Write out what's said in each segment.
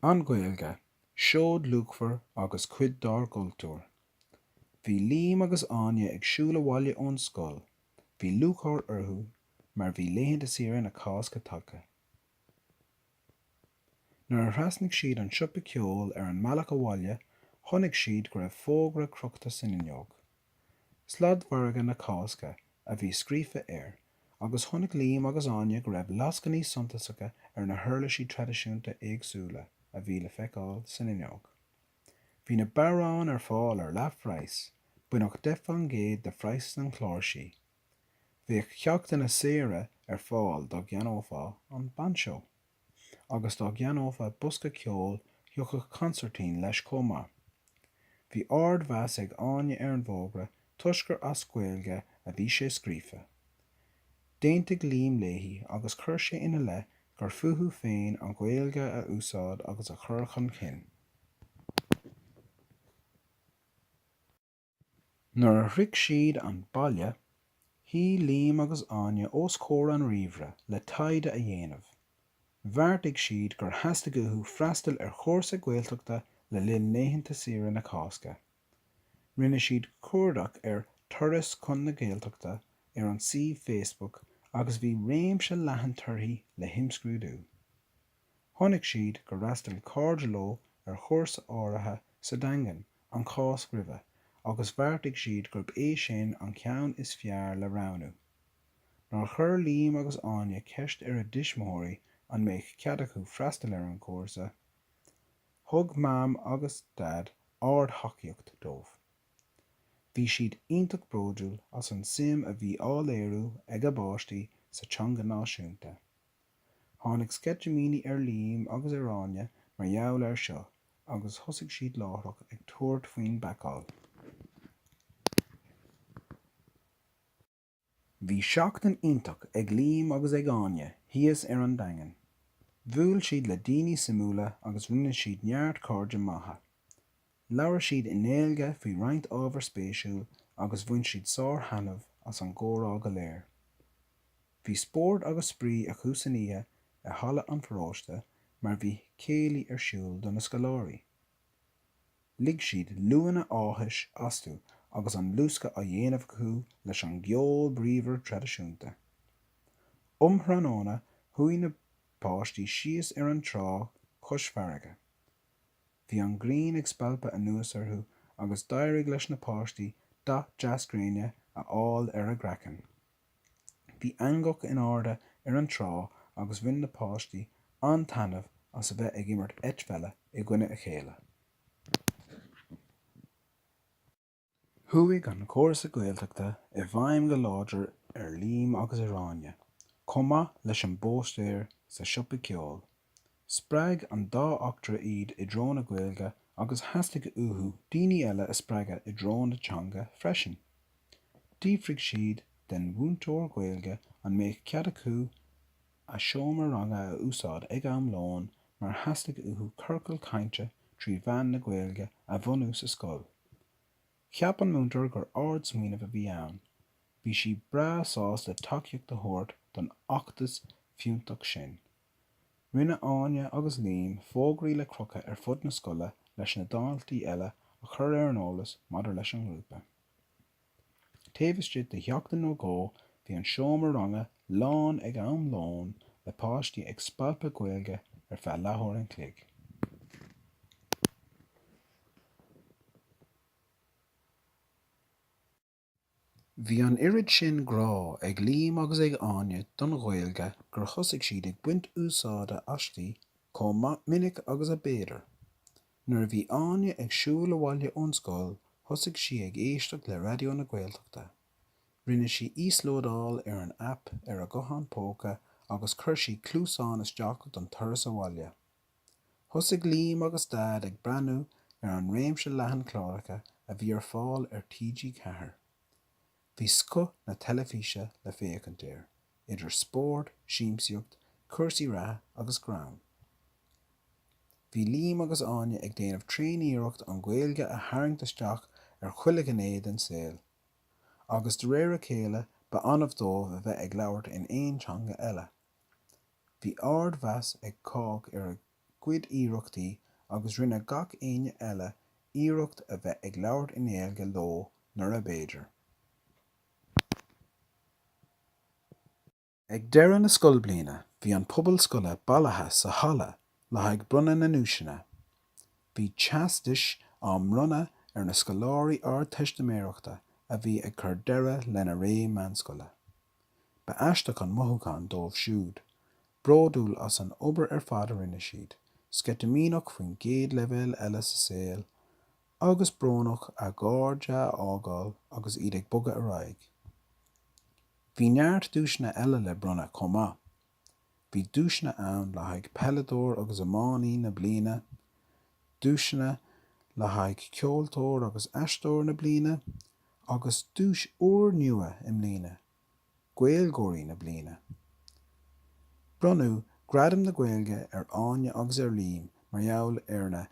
An Ghaeilge, Seoid luachmhar agus cuid dár gcultúr. Bhí Liam agus Áine ag siúl abhaile ón scoil. Bhí lúcháir orthu mar bhí laethanta saoire na Cásca tagtha. Nuair a thrasnaigh siad an siopa ceoil ar an mbealach abhaile chonaic siad go raibh fógra crochta san fhuinneog. Sladmhargadh na Cásca a bhí scríofa air, agus chonaic Liam agus Áine go raibh lascainí suntasacha ar na huirlisí traidisiúnta éagsúla a bhí le feiceáil san fhuinneog. Bhí na bodhráin ar fáil ar leathphraghas, baineadh deich fán gcéad de phraghas na cláirsí. Bheadh ceachtanna saora ar fáil dá gceannófá an bainseó. agus dá gceannófá bosca ceoil thiocfadh consairtín leis chomh maith. Bhí ardmheas ag Áine ar an bhfógra toisc gur as Gaeilge a bhí sé scríofa. D'aontaigh Liam léi agus chuir sé ina leith gur fúthu féin an Ghaeilge a úsáid agus a chur chun cinn. Nuair a shroich siad an baile, shuigh Liam agus Áine os comhair an ríomhaire le taighde a dhéanamh. Bheartaigh siad gur theastaigh uathu freastal ar chúrsa Gaeltachta le linn laethanta saoire na Cásca. Rinne siad cuardach ar 'Turas chun na Gaeltachta' ar an suíomh Facebook agus bhí réimse leathan torthaí le himscrúdú. Chonaic siad gur fhreastail cairde leo ar chúrsa áirithe sa Daingean, an Cháisc roimhe, agus bheartaigh siad gurb é sin an ceann is fearr le roghnú. Nuair a chuir Liam agus Áine ceist ar a dtuismitheoirí an mbeadh cead acu freastal ar an gcúrsa, thug Mam agus Daid ardtacaíocht dóibh. Bhí siad iontach bródúil as an suim a bhí á léiriú ag a bpáistí sa teanga náisiúnta. Tháinig sceitimíní ar Liam agus ar Áine mar gheall ar seo agus thosaigh siad láithreach ag tabhairt faoin bpacáil. Bhí seachtain iontach ag Liam agus ag Áine thíos ar an Daingean. Bhuail siad le daoine suimiúla agus rinne siad neart cairde maithe. Labhair siad i nGaeilge faoi roinnt ábhar spéisiúil agus bhain siad sárthaitneamh as an gcomhrá go léir. Bhí spórt agus spraoi acu san oíche i Halla an Pharóiste mar bhí céilí ar siúl do na scoláirí. Lig siad liúnna áthais astu agus an luascadh á dhéanamh acu leis an gceol bríomhar traidisiúnta. Um thráthnóna chuaigh na páistí síos ar an trá cois farraige. Bhí an ghrian ag spalpadh anuas orthu agus d'éirigh leis na páistí dath deas gréine a fháil ar a gcraiceann. Bhí eangach in airde ar an trá agus bhain na páistí an-taitneamh as a bheith ag imirt eitpheile i gcoinne a chéile. Chuaigh an cúrsa Gaeltachta i bhfeidhm go láidir ar Liam agus ar Áine, chomh maith leis an bpóstaer sa siopa ceoil. Spreag an dá eachtra iad i dtreo na Gaeilge agus theastaigh uathu daoine eile a spreagadh i dtreo na teanga freisin. D'fhiafraigh siad den mhúinteoir Gaeilge an mbeadh cead acu a seomra ranga a úsáid ag am lóin mar theastaigh uathu ciorcal cainte trí mheán na Gaeilge a bhunú sa scoil. Cheap an múinteoir gur ardsmaoineamh a bhí ann. Bhí sí breá sásta le tacaíocht a thabhairt don fheachtas fiúntach sin. Rinne Áine agus Liam fógraí le crochadh ar fud na scoile leis na daltaí eile a chur ar an eolas maidir leis an ngrúpa. Taobh istigh de sheachtain nó dhó bhí an seomra ranga lán ag am lóin le páistí ag spalpadh Gaeilge ar feadh leathuair an chloig. Bhí an oiread sin grá ag Liam agus ag Áine don Ghaeilge gur thosaigh siad ag baint úsáide aisti chomh minic agus a b'fhéidir. Nuair a bhí Áine ag siúl abhaile ón scoil thosaigh sí ag éisteacht le Raidió na Gaeltachta. Rinne sí íoslódáil ar an aip ar a guthán póca agus chuir sí cluasáin isteach don turas abhaile. Thosaigh Liam agus Daid ag breathnú ar an réimse leathan cláracha a bhí ar fáil ar TG4. Bhí scoth na teilifíse le féachaint air, idir spórt, siamsaíocht, cúrsaí reatha agus greann. Bhí Liam agus Áine ag déanamh tréaniarracht an Ghaeilge a tharraingt isteach ar chuile ghné den saol, agus de réir a chéile ba annamh dóibh a bheith ag labhairt in aon teanga eile. Bhí ardmheas ag cách ar a gcuid iarrachtaí agus rinne gach éinne eile iarracht a bheith ag labhairt i nGaeilge leo nuair ab fhéidir. Ag deireadh na scoilbliana bhí an pobal scoile bailithe sa halla le haghaidh bronnadh na nduaiseanna. Bhí teastais á mbronnadh ar na scoláirí Ardteistiméireachta a bhí ag cur deireadh lena ré meánscoile. Ba aisteach an mothúchán dóibh siúd. Bródúil as an obair ar fad a rinne siad, sceitimíneach faoin gcéad leibhéal eile sa saol, agus brónach a gcairde a fhágáil agus iad ag bogadh ar aghaidh. Bhí neart duaiseanna eile le bronnadh chomh maith. Bhí duaiseanna ann le haghaidh Peileadóir agus Iománaí na Bliana, duaiseanna le haghaidh Ceoltóir agus Aisteoir na Bliana agus duais úrnua i mbliana, Gaeilgeoirí na Bliana. Bronnadh Gradam na Gaeilge ar Áine agus ar Liam mar gheall ar na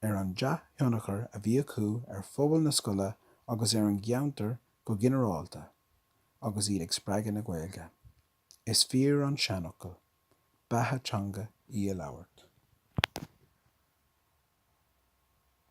ar an dea-thionchar a bhí acu ar phobal na scoile agus ar an gceantar go ginearálta agus iad ag spreagadh na Gaeilge. Is fíor an seanfhocal, Beatha teanga í a labhairt.